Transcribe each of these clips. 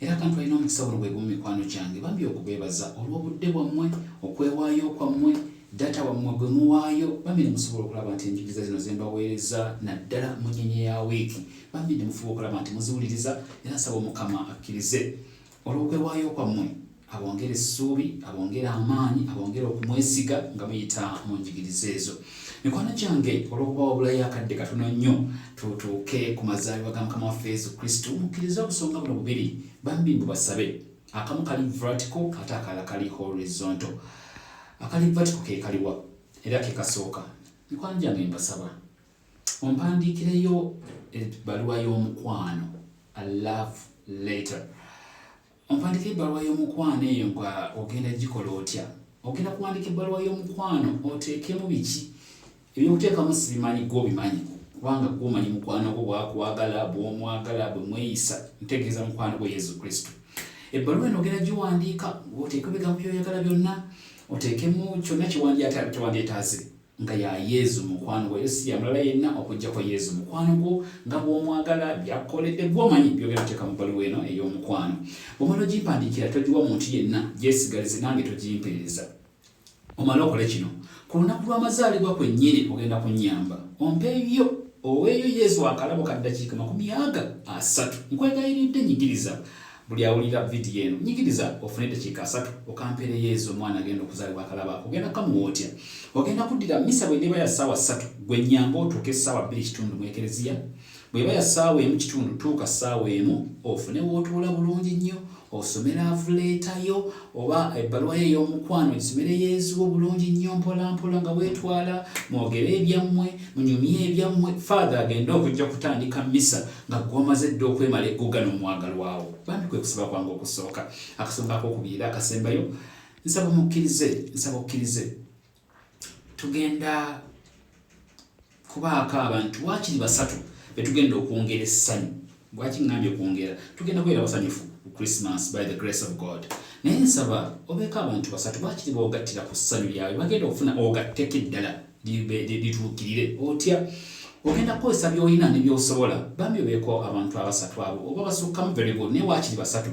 era kantu alina omukisa buno bwegumu mikwano gyange bambi okubeebaza olw'obudde bwammwe okwewaayo kwammwe data wammwe gwe muwaayo bambi nemusobola okulaba nti enjigiriza zino zembaweereza naddala mu nyenye ya wiiki bambi nemufuba okulaba nti muziwuliriza era nsaba omukama akkirize olw'okwewaayo kwammwe abongera essuubi abongera amaanyi abongera okumwesiga nga muyita mu njigiriza ezo mikwano gyange olw'okuba wabulayo akadde katono nnyo tutuuke ku mazaalibwa ga mukama waffe yesu kristo mukkiriza obusonga buno bubiri bambi mbu basabe akamu kali vertico ate akala kali horizonto akali vertico ke kaliwa era ke kasooka mikwano gyange mbasaba ompandiikireyo ebbaluwa y'omukwano a love later Ompandiika ebbaluwa y'omukwano eyo nga ogenda gikola otya? Ogenda kuwandiika ebbaluwa y'omukwano oteekemu biki? Ebyokuteekamu sibimanyi gwe obimanyi kubanga gwe omanyi mukwano gwo bwakwagala bwomwagala bwe mweyisa ntegeeza mukwano gwo Yesu Kristo. Ebbaluwa eno ogenda giwandiika oteekemu ebigambo byoyagala byonna oteekemu kyonna kyewandyetaaze. nga ya Yezu mukwano gwo, era si ya mulala yenna okuggyako Yezu mukwano gwo nga bw'omwagala, by'akukoledde, gw'omanyi, by'ogenda kuteeka mu bbaluwa eno ey'omukwano. Bw'omala ogimpandiikira, togiwa muntu yenna, gyesigalize nange togimpeereza. Omale okole kino, ku lunaku lw'amazaalibwa kwennyini ogenda kunnyamba ompeeyo oweeyo Yezu akalabo ka ddakiika makumi aga asatu. Nkwegayiridde, nyigiriza buli awulira vidiyo eno nyigiriza ofune eddakiika asatu okampeereyo ezo omwana agenda okuzaalibwa akalaba ako ogenda kamuwa otya ogenda kuddira misa bwe neeba ya ssaawa ssatu gwe nyanga otuuke essaawa bbiri kitundu mu ekereziya bweba ya ssaawa emu kitundu tuuka ssaawa emu ofune wootuula bulungi nnyo osome laavuleetayo oba ebbaluwa ye ey'omukwano gisomere yezu obulungi nnyo mpolampola nga weetwala mwogere ebyammwe munyumye ebyammwe faatha agende okujja kutandika misa nga gwamaze dda okwemala eggoga n'omwagalwawo bambi kwe kusaba kwange okusooka akasonga akokubiri era akasembayo nsaba mukkirize nsaba okkirize tugenda kubaako abantu wakiri basatu betugenda okwongera essanyu lwaki ŋambye okwongera tugenda kubeera basanyufu ku christmas by the grace of god naye nsaba obeeko abantu basatu bakiri boogattira ku ssanyu lyabwe bagenda okufuna ogatteko eddala lituukirire otya ogenda kukozesa byolina ne byosobola bambi obeeko abantu abasatu abo oba basukkamu very good naye waakiri basatu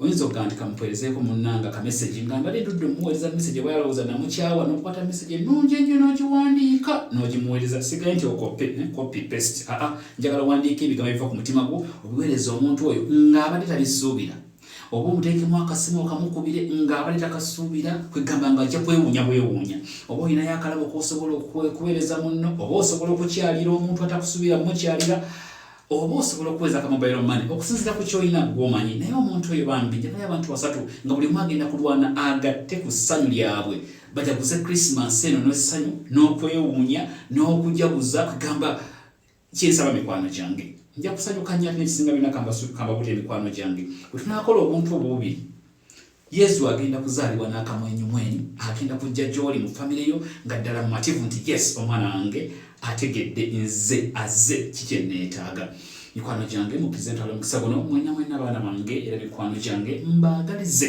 oyinza okugamba nti kamupeerezeeko munnanga kamesegi nga mbadde ndudde omuweereza mesegi oba yalowooza namukyawa n'okukwata mesegi ennungi ennyo n'ogiwandiika n'ogimuweereza sigaye nti okope eh, copy paste aa njagala owandiika ebigambo ebiva ku mutima gwo obiweereza omuntu oyo ng'abadde tabisuubira oba omuteekemu akasimu okamukubire nga abali takasuubira kwegamba nga ajja kwewuunya bwewuunya oba olinayo akalabo kosobola okuweereza munno oba osobola okukyalira omuntu atakusuubira mukyalira oba osobola okuweza ka mobile money okusinzira ku kyolina gwomanyi naye omuntu oyo bambi njagala abantu basatu nga buli omu agenda kulwana agatte ku ssanyu lyabwe bajaguze krisimansi eno n'essanyu n'okwewuunya n'okujaguza kugamba kyensaba mikwano gyange nja kusanyuka nnyo ate nekisinga byona kambabulira emikwano gyange bwe tunaakola obuntu obwo bubiri yesu agenda kuzaalibwa n'akamwenyumwenyu agenda kujja gy'oli mu famire yo nga ddala mumativu nti yes omwana wange ategedde nze aze kikye neetaaga mikwano gyange mukizentalo mukisa guno mwena mwena abaana bange era mikwano gyange mbaagalize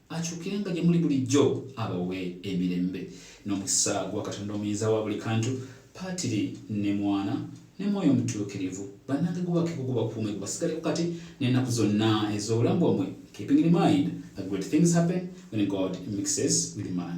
akyukenga gye muli bulijjo abawe emirembe n'omukisa gwa katonda omuyinza wa buli kantu paatiri ne mwana ne mwoyo omutuukirivu bannange gubakeko gubakuume gubasigaleko kati n'ennaku zonna ez'obulamu bwammwe keeping in mind that great things happen when god mixes with man